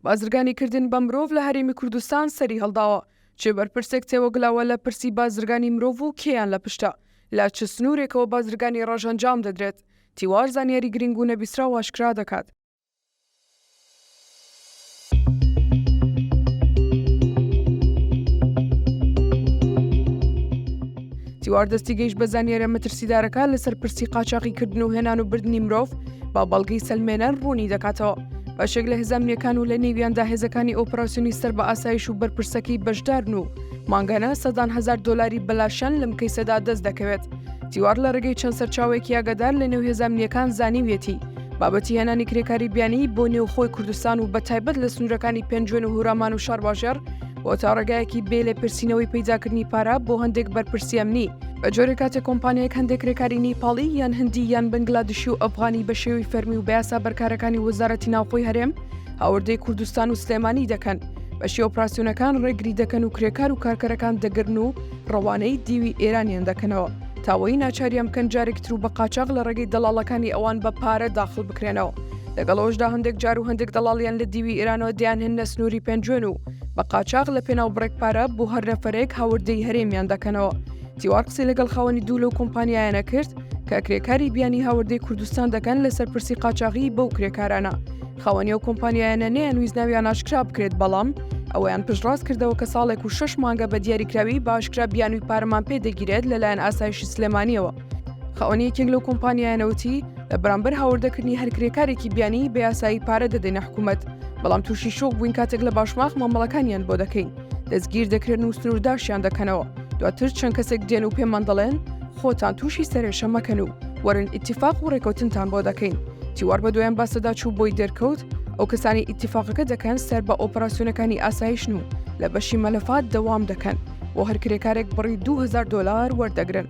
بازرگانی کردن بە مرۆڤ لە هەرێمی کوردستان سەری هەڵداوە، چ بەرپرسێک تێوەگلاوە لە پرسی بازرگانی مرۆڤ و کێیان لە پشتە، لە چ سنوورێکەوە بازرگانی ڕەش ئەنجام دەدرێت، تیوار زانیاری گرینگ و نەبیسراو ئاشکرا دەکات. تیوار دەستی گەیشت بە زانیارە مەترسیدارەکان لەسەر پرسی قاچاقی کردن و هێنان و بردننی مرۆڤ با بەڵگەی سلمێنەر ڕوونی دەکاتەوە. بەشێک لە هزامنیەکان و لە نێویاندا هێزەکانی ئۆپراسسیۆنی سەر بە ئاسایش و بەرپرسەکەی بەشدارن و مانگانە سەدان هزار دلاری بەلاشان لەم کەیسەدا دەست دەکەوێت تیوار لە ڕێگەی چەند سەرچاوێکی یاگەدار لە نێو هێزامنیەکان زانیویەتی بابەتی هێنانی کرێکاری بیانی بۆ نێوخۆی کوردستان و بەتایبەت لە سنوورەکانی پێنجوێن و هورامان و شارباژێر بۆ تا ڕێگایەکی بێ لێ پرسینەوەی پیداکردنی پارە بۆ هەندێک بەرپرسیەمنی بە جۆرە کاتێک کۆمپانیایەک هەندێک کرێکاری نیپاڵی یان هەندی یان بنگلادشی و ئەفغانی بە شێوی فەرمی و بەیاسا بەرکارەکانی وەزارەتی ناوخۆی هەرێم هاوردەی کوردستان و سلێمانی دەکەن بە شێوە پراسیۆنەکان ڕێگری دەکەن و کرێکار و کارکەرەکان دەگرن و ڕەوانەی دیوی ئێرانیان دەکەنەوە، تاوەی ناچاریان بکەن جارێکی ترو بە قاچاغ لە ڕێگەی دەڵاڵەکانی ئەوان بە پارە داخڵ بکرێنەوە، لەگەڵ ئەوەشدا هەندێک جارو هەندێک دەڵاڵیان لە دیوی ئێرانەوە دەیان هێننە سنوری پێنجوێن و بە قاچاغ لە پێناو بڕێک پارە بۆ هەر نەفەرێک هاوردەی هەرێمیان دەکەنەوە، تیوار قسەی لەگەڵ خاوەنی دوو لەو کۆمپانیایانە کرد کە کرێکاری بیانی هاوردەی کوردستان دەکەن لەسەر پرسی قاچاغیی بەو کرێکارانە، خاوەنی ئەو کۆمپانیایانە نەیانویست ناویان ئاشکرا بکرێت بەڵام ئەوەیان پشتڕاست کردەوە کە ساڵێک و شش مانگە بە دیاریکراوی باشکرا بیانوی پارەمان پێ دەگیرێت لەلایەن ئاسایشی سلێمانیەوە خاوەنی یەکێک لەو کۆمپانیایانەوتی لە بەرامبەر هاوردەکردنی هەر کرێکارێکی بیانی بە یاسایی پارە دەدەینە حکوومەت بەڵام تووشی شۆک بووین کاتێک لە باشماخ مامەڵەکانیان بۆ دەکەین. دەستگیر دەکرێن و سنوورداشیان دەکەنەوە دواتر چەند کەسێک دێن و پێمان دەڵێن خۆتان تووشی سەرێشە مەکەن و وەرن ئیتیفاق و ڕێکوتنتان بۆ دەکەین تیوار بە دویان باسەدا چوو بۆی دەرکەوت ئەو کەسانی ئیتیفاقەکە دەکەن سەر بە ئۆپەراسسیۆنەکانی ئاسایشن و لە بەشی مەلەفات دەوام دەکەن بۆ هەر کرێکارێک بڕی 2000 دلار وەردەگرن.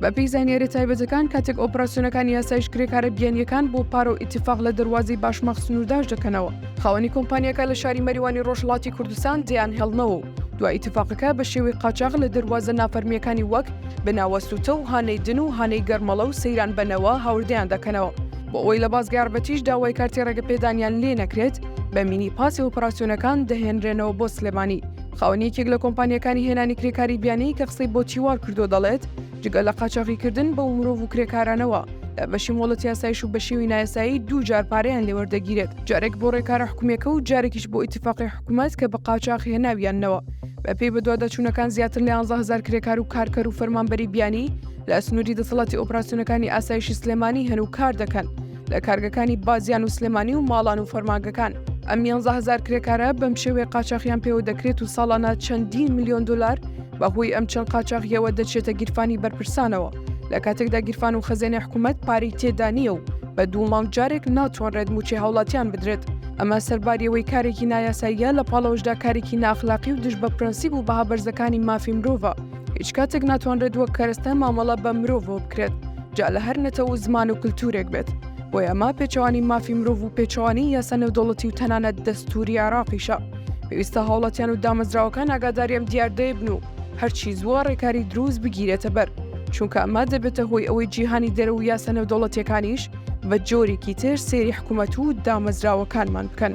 بەپی زانیاری تایبەتەکان کاتێک ئۆپراسسیۆنەکانی یاسایش کرێکارە بیانیەکان بۆ پارە و ئیتیفاق لە دەواازی باشماخ سنوورداش دەکەنەوە خاوەنی کۆمپانیەکە لە شاری مەریوانی ڕۆژهڵاتی کوردستان دیان هێڵنەوە و دوای ئیتفاقەکە بە شێوەی قاچاغ لە دەواازە نافەرمیەکانی وەک بناوە سووتە و هانەی دن و هانەی گەرمەڵە و سەیران بەنەوە هاوردەیان دەکەنەوە بۆ ئەوی لە بازگاربەتیش داوای کارتی ڕێگە پێدانیان لێ نەکرێت بە مینی پاسی ئۆپەراسسیۆنەکان دەهێنرێنەوە بۆ سلێمانی خاوەنیەکێک لە کۆمپانیەکانی هێنانی کرێکاری بیانی کە قسەی بۆ چیوار کردو دەڵێت جگە لە قاچاغیکردن بەو مرۆڤ و کرێکارانەوە، لە بەشی مۆڵەت یاسایش و بە شێوی نایاسایی دوو جار پارەیان لێ وەردەگیرێت، جارێک بۆ ڕێکارە حکومییەکە و جارێکیش بۆ ئیتیفاقی حکومەت کە بە قاچاخ هێناویاننەوە. بەپێی بەدواداچوونەکان زیاتر لە یانزە هەزار کرێکار و کارکەر و فەرمانبەری بیانی لە سنووری دەسەڵاتی ئۆپراسیۆنەکانی ئاسایشی سلێمانی هەن و کار دەکەن لە کارگەکانی بازیان و سلێمانی و ماڵان و فەرمانگەکان. ئەم یانزە هەزار کرێکارە بەم شێوەیە قاچاخیان پێوە دەکرێت و ساڵانە چەندین ملیۆن دۆلار بەهۆی ئەم چەند قاچاغیەوە دەچێتە گیرفانی بەرپرسانەوە لە کاتێکدا گیرفان و خەزێنێ حکوومەت پارەی تێدا نییە و بە دوو مانگ جارێک ناتوانرێت موچەی هاوڵاتیان بدرێت ئەمە سەرباریەوەی کارێکی نایاساییە لە پاڵەوەشدا کارێکی ناخلاقی و دژ بە پرەنسیب و بەها بەرزەکانی مافی مرۆڤە هیچ کاتێک ناتوانرێت وەک کەرەستە مامەڵە بە مرۆڤەوە بکرێت جا لە هەر نەتەوە و زمان و کللتورێک بێت بۆ ئەمە پێچوانی مافی مرۆڤ و پێچوانی یاسا نێودەوڵەتی و تەنانەت دەستوری عراقیشە پێویستە هاوڵاتیان و دامەزراوەکان ئاگاداریان دیاردەیبن و هەرچی زووە ڕێکاری دروست بگیرێتە بەر چونکە ئەمە دەبێتە هۆی ئەوەی جیهانی دەرە و یاسە نەودەوڵەتیەکانیش بە جۆرێکی تر سێری حکوومەت و دامەزراوەکانمان بکەن.